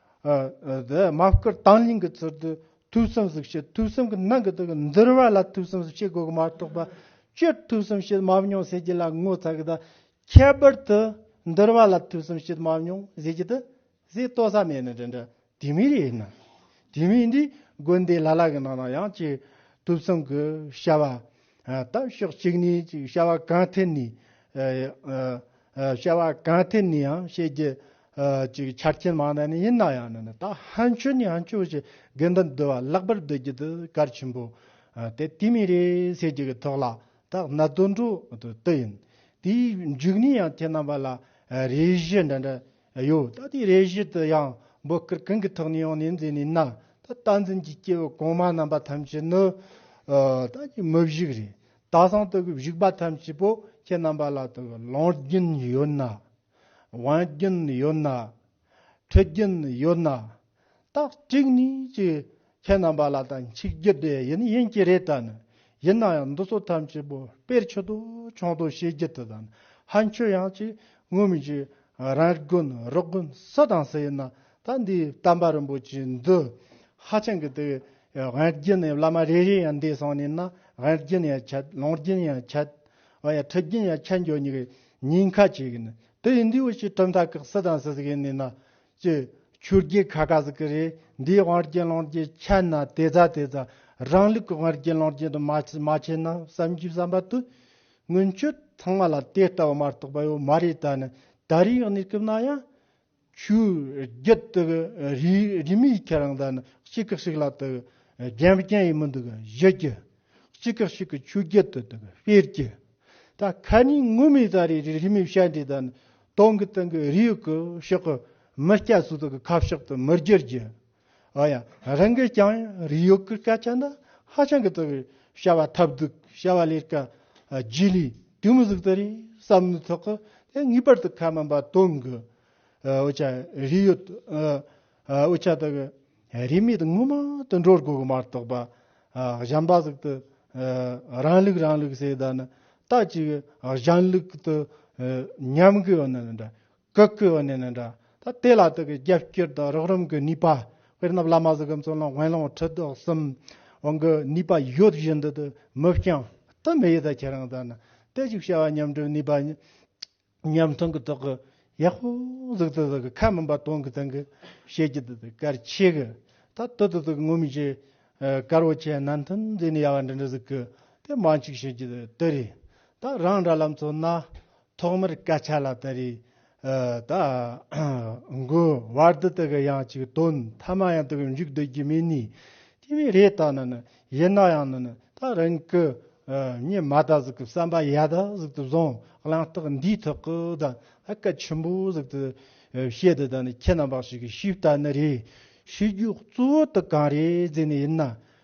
དམག་བཀུར་དྭངས་བརླིང་གི་ཚུལ་དུ་ཐུགས་བསམ་གཟིགས་ཕྱིར་ཐུགས་བསམ་གྱི་ནང་གི་དོན་གྱི་འདིར་བ་ལ་ཐུགས་བསམ་བྱེད་དགོས་ཀྱི་མ་གཏོགས་པ། སྤྱིར་ཐུགས་བསམ་བྱེད་མ་མྱོང་ཟེར་རྒྱུ་ལ་ངོ་ཚ་གི་དང་ཁྱད་པར་དུ་འདིར་བ་ལ་ཐུགས་བསམ་བྱེད་མ་མྱོང་ཟེར་རྒྱུ་དེ་ཟས་ལྟོ་ས་མེད་ནི་འདྲ་འདྲ་དེ་མིན་རེད་ན། དེ་མིན་འདིས་དགོན་སྡེ་ལ་ལ་གི་ནང་ན་ཡང་ཅིག་ཐུགས་བསམ་གྱི་བྱ་བ་དང་ཕྱོགས་གཅིག་ནས་ཅིག་བྱ་བ་གང་ཐད་ནས་བྱ་བ་གང་ཐད་ནས་ཡང་བྱེད་རྒྱུ་ཅིག་ཆ་རྐྱེན་མང་ན་ནི་ཡིན་ན་ཡང་ན་ད་ཧན་ཆོས་ནི་ཧན་ཆོས་ཀྱི་དགེ་འདུན་བསྡུ་བ་ལྷག་པར་བསྡུ་རྒྱུ་དུ་གར་ཆེན་པོ་སྟེ་དེ་མི་རེའི་ཟེར་རྒྱུ་གི་ཐོག་ལ་ད་གནའ་དུད་འགྲོ་དུ་ཡིན་དེའི་མཇུག་ནས་ཡང་དེ་རྣམ་པ་ལ་རེ་བཞི་འདྲ་འདྲ་ཡོད་ད་དེའི་རེ་བཞི་དུ་ཡང་འབོད་སྐུལ་གང་གི་ཐོག་ནས་ཡང་ནས་མཛད་ནས་ན་ད་རྟ་འཛིན་གྱི་སྐྱེ་བོ་གོང་མ་རྣམ་པ་ཐམས་ཅད་ནི་ད་ཀྱི་མི་བཞུགས་རེད་ད་སང་དུ་གི་བཞུགས་པ་ཐམས་ཅད་པོ་ཁྱེད་རྣམ་པ་ལ་དུ་གི་ལོངས་སྐྱིན་ཡོད་ན་དབང་རྒྱུན་ཡོད་ན། འཕྲོད་རྒྱུན་ཡོད་ན། རྟགས་གཅིག་ནི་གཅིག་ཁྱེད་རྣམ་པ་ལ་དང་ཆིག་རྒྱུ་དེ་ཡིན་ཡིན་གྱི་རེད་དྲན། ཡིན་ན་ཡང་འདི་ཚོ་ཐམས་ཅད་པོ་དཔེར་ཆུ་དོ་ཆུང་དོ་བྱེད་རྒྱུ་དེ་དང་ཧ་འཁྱོལ་ཡང་གཅིག་ངུ་མི་གཅིག་རང་དགོན་རོགས་དགོན་སུ་དང་སུ་ཡིན་ན་ད་འདི་དམ་པ་རིན་པོ་ཆེ་འདི་ཧ་ཅང་གི་དེ་དབང་རྒྱུན་ནས་བླ་མ་རེ་རེ་ཡང་འདས་སོང་ནས་ན་དབང་རྒྱུན་ཡང་ཁྱད་ལོངས་རྒྱུན་ཡང་ཁྱད་འཕྲོད་རྒྱུན་ཡང་ཁྱད་འགྱོ་ཉི་གི་ཉིན་ཁ་ཅིག་ན་དེ་ཡི་འདི་འོ་ཅི་གྲུབ་མཐའ་ཁག་སི་དང་སི་ཟི་གི་ནི་ན་ཅི་ཆུ་རྒྱལ་ཁ་ཁ་ཟི་གི་རེ་འདིའི་དབང་རྐྱེན་ལོངས་རྐྱེན་ཆ་ན་དེ་ཚ་དེ་ཚ་རང་ལུགས་ཀྱི་དབང་རྐྱེན་ལོངས་རྐྱེན་དུ་མ་མ་ཆེ་ན་བསམ་གྱིས་བསམ་པ་དུ་སྔོན་ཆོས་ཚང་མ་ལ་དེ་ལྟ་བུ་མ་རྟོགས་པ་ཡོད་མ་རེད་ད་ནི་ད་རིང་ནས་སྐུབ་ན་ཡང་ཆུ་རྒྱུད་དུ་རིས་མེད་ཁྱེད་རང་དང་གཅིག་གི་ཞིག་ལ་རྒྱན་བརྒྱན་ཡི་མི་འདུག་བཞི་ཀྱི་གཅིག་གི་ཞིག་གི་ཆུ་རྒྱུད་དུ་དཔེར་གྱི་ད་ཁ་ནས་ངུ་མི་ད་རེ་རིས་མེད་བཤད་འདྲེ་དང་སྟོང་གི་སྟེང་གི་རིས་ཡོད་གི་ཞོག་གི་མི་སྐྱ་སུ་དག་གི་ཁ་ཕྱོགས་དུ་མི་བསྒྱུར་རྒྱུ་ཨོ་ཡང་རང་གིས་ཀྱང་རིགས་ཡོད་ཀྱི་སྐད་ཆ་འདི་ཧ་ཅང་གི་དག་རེད་བྱ་བ་ཐབས་སྡུག་བྱ་བ་ལས་ཀ་རྗེས་ལུས་དུས་མི་ཟིག་དེ་རེད་བསམ་བློའི་ཐོག་གི་དེ་ངེས་པར་དུ་ཁ་མིན་པ་སྟོན་དགོས་ཨོ་ཆ་རིགས་ཡོད་ཨོ་ཆ་དག་རིས་མེད་དངོས་མང་དུ་འགྲོ་དགོས་གི་མ་གཏོགས་པ་གཞན་པ་ཟིག་དུ་རང་ལུགས་རང་ལུགས་ཟེར་ད་ནི་ད་ཅིག་གཞན་ལུགས་དུ་ཉམས་དགོས་ཡོད་ན་འདྲ་གུ་གུལ་བ་ནི་ནི་འདྲ། ད་ལྟའི་ལ་དུག་གི་རྒྱབ་སྐྱོར་དང་རོགས་རམ་གྱི་ནུས་པ། དཔེར་ན་བླ་མ་གཟུགས་གམ་བཙོན་ལོང་དབེན་ལོང་ཁྲི་དོག་གསུམ། འོང་གི་ནུས་པ་ཡོད་བཞིན་དུ་དུ་མི་བསྐྱང། དུ་མི་ཡི་དྭགས་ཁྱེད་རང་ལྟར་ན། ལྟོས་ཤིག་བྱ་བ་ཉམས་སྒྲུབ་ནུས་པ། ཉམས་མཐོང་གི་ཐོག་གི་ཡག་པོ་གཟུགས་དུ་དུ་གི་ཁ་མིན་པ་སྟོང་གི་སྟེང་གི་ཞལ་གྱི་དུ་དུ་དཀར་ཆེ་གི། ད་དུ་དུ་དུ་གི་ངུར་སྨྲིག་ཆེ། དཀར་བོ་ཆེ་ནན་ཐུན་མཛེས་ནི་ཡ་བ་འདྲི་འདྲི་གཟུགས་གི་དེ་མང་ཅིག་བྱེད་ཀྱི་དུ་རེད། ད་རང་འདྲ་ལམ་ཚོ་ན། ཐོག་མར་སྐད་ཆ་ལ་ད་རེས་ད་མགོ་བར་དུ་དག་གི་ཡང་ཅིག་དོན་ཐ་མ་ཡང་དག་འཇུག་འདོད་ཀྱི་མེད་ནི་དེ་བས་རེད་ད་ན་ནི་ཡིན་ན་ཡང་ནི་ད་རང་གི་ཉི་མ་ད་གཟུགས་ཀྱི་བསམ་པ་ཡ་ད་གཟུགས་ཏུ་བཟུང་གླེང་རྟགས་འདིའི་ཐོག་གི་ད་སྐད་ཆེན་པོ་གཟུགས་ཏུ་བཤད་དུ་ད་ནི་ཁྱེད་རྣམ་པ་ཞིག་གི་ཤེས་པ་ད་ནི་རེད་ཤེས་རྒྱུ་གཙོ་བོ་ད་གང་རེད་ཟེར་ནི་ཡིན་ན་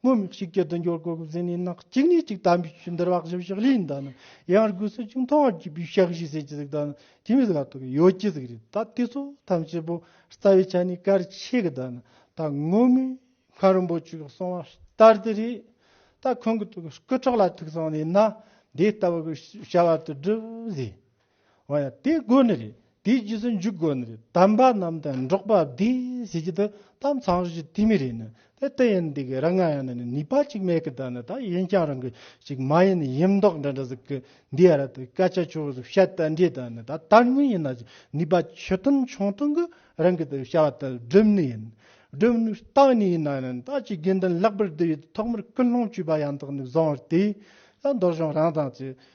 སྔོན་མི་གཅིག་གི་དུ་འགྱུར་གོ་གི་ཟིན་ནས་ནག་གཅིག་ནས་གཅིག་དམ་པའི་ཆོས་འདིར་བག་ཞབས་ཞག་ལས་འདའ་ནི་ཡང་སྒོས་སུ་ཅུང་མཐོང་བར་གྱུར་པའི་ཞག་བཞི་ཟས་ཀྱི་གཟུགས་དང་ནི་ཁྱིམ་བཞི་ལ་ཐོགས་ཡོད་ཀྱི་གཟུགས་རེད་ད་དེ་ཚོ་ཐམས་ཅད་པོ་རྩ་བའི་ཆ་ནས་གར་ཆེ་གི་དང་ནི་ད་སྔོན་མའི་ཁང་རིན་པོ་ཆེ་གི་གསུང་བ་ལྟར་དུ་རེད་ད་ཁོང་གི་དུ་སྐུ་ཁྲག་ལ་ཐུག་སོང་ནས་ན་འདི་ལྟ་བུ་གི་བྱ་བ་དུ་བསྒྲུབས་ཟེར། འོ་ཡ། དེ་དགོས་ནི་རེད། དེའི་རྗེས་སུ་འཇུག་དགོས་ནི་རེད། དམ་པ་རྣམས་དང་འགྲོགས་པ་བདེ། ཟེར་གྱི་འདུག་དམ་གཙང་རུ་ཅི་དེ་མི་རེད་ནི། དེ་དེ་ཡིན་འདི་གི་རང་ང་ཡང་ནི་ནུས་པ་ཅིག་མེད་གི་ད་ནི་ད་ཡིན་ཀྱང་རང་གི་ཅིག་མ་ཡིན་ནི་ཡིན་མདོག་འདྲ་འདྲ་ཟེར་གི་འདི་ཨ་ར་ཏི་སྐད་ཆ་ཆུང་ཟུར་བཤད་ལྟ་འདྲའི་ད་ནི་ད་དར་ངོས་ཡིན་ན་ཅིག་ནུས་པ་ཆེ་ཐུང་ཆུང་ཐུང་གི་རང་གི་དེ་བྱ་བ་དེ་སྒྲུབ་ནི་ཡིན། སྒྲུབ་ནི་བཏང་ནི་ཡིན་ན་ནི་ད་ཅིག་དགེ་འདུན་ལྷག་པར་དུ་ཡོད་དེ་ཐོག་མར་སྐུ་སློང་བྱུས་པ་ཡང་དག་ནི་བཟང་བར་དེའི་ད་མདོ་གཞུང་རང་དང་ཅིག།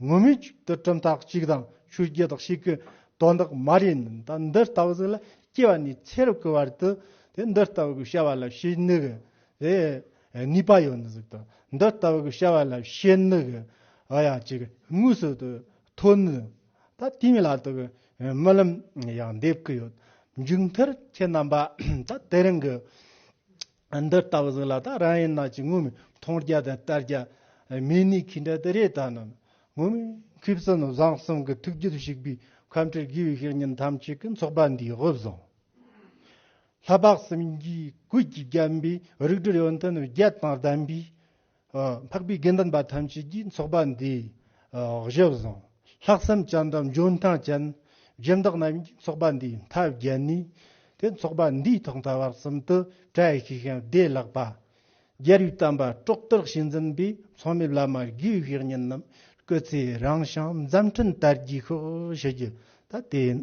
ངུར་སྨྲིག་གཅིག་ཏུ་གྲུབ་མཐའ་གཅིག་དང་ཆོས་བརྒྱད་དག་ཤེས་ཀྱི་དོན་དག་མ་རིག་ནི་ད་འདི་ལྟ་བུ་ཟིན་ལ་སྐྱེ་བ་ནས་ཚེ་རབས་ཀྱི་བར་དུ་དེ་འདི་ལྟ་བུ་གི་བྱ་བ་ལ་ཤེས་ནུས་ཀྱི་ནུས་པ་ཡོད་ནི་ཟིག་དང་འདི་ལྟ་བུ་གི་བྱ་བ་ལ་ཤེས་ནུས་ཀྱི་ཨ་ཡ་གཅིག་དངོས་སུ་དུ་ཐོན་ནུས་ད་དེའི་མི་ལ་དུ་གི་རྨི་ལམ་ཡང་འདེབས་ཀྱི་ཡོད་མཇུག་མཐར་ཁྱེད་རྣམ་པ་ད་དེ་རིང་གི་འདི་ལྟ་བུ་ཟིག་ལ་ད་རང་ཡིན་ནག་ཅིག་ངུ་མི་མཐོང་རྒྱ་དང་ལྟར་རྒྱ། མི་ནི་ཁྱི་འདྲ་དེ་རེད་ད་ནམ་ངུ་མི་ཁུ་བསོད་ནམས་བཟང་གསུམ་གྱི་ཐུགས་རྒྱུད་བཤིག་པའི་ཁམས་ཁྲིར་བསྒུལ་བའི་ཤེར་ཉིན་ཐམས་ཅད་ཀྱི་ཚོགས་པ་འདིའི་དབུ་བཟང། ལྷ་འབག་སུམ་བརྒྱའི་གུས་ཀྱིས་བརྒྱན་པའི་རིགས་དྲུག་ཡོན་ཏན་བརྒྱད་དང་ལྡན་པའི་འཕགས་པའི་དགེ་འདུན་པ་ཐམས་ཅད་ཀྱིས་འཚོགས་པ་འདི་གཞི་བཟུང། ལྷག་བསམ་སྤྱན་དྲངས་འཇོན་ཐང་ཅན་སྦྱིན་བདག་རྣམས་ཀྱིས་འཚོགས་པ་འདིའི་མཐའ་བརྒྱད་ནས་དེ་འཚོགས་པ་འདིའི་ཐོག་མཐའ་བར་གསུམ་དུ་བཀྲ་ཤིས་ཤིང་བདེ་ལགས་པ། རྒྱལ་བའི་དམ་པ་གྲོགས་དག་བྱེད་འཛིན་པའི་ཚོགས་མི་བླ་མ་དགེ་བའི་བཤེས་གཉེན་རྣམས་སྐུ་ཚེ་རིང་ཞིང་མཛའ་མཐུན་དར་རྒྱས་ཤོག་ཞུ་རྒྱུ་ད་དེ་ཡིན།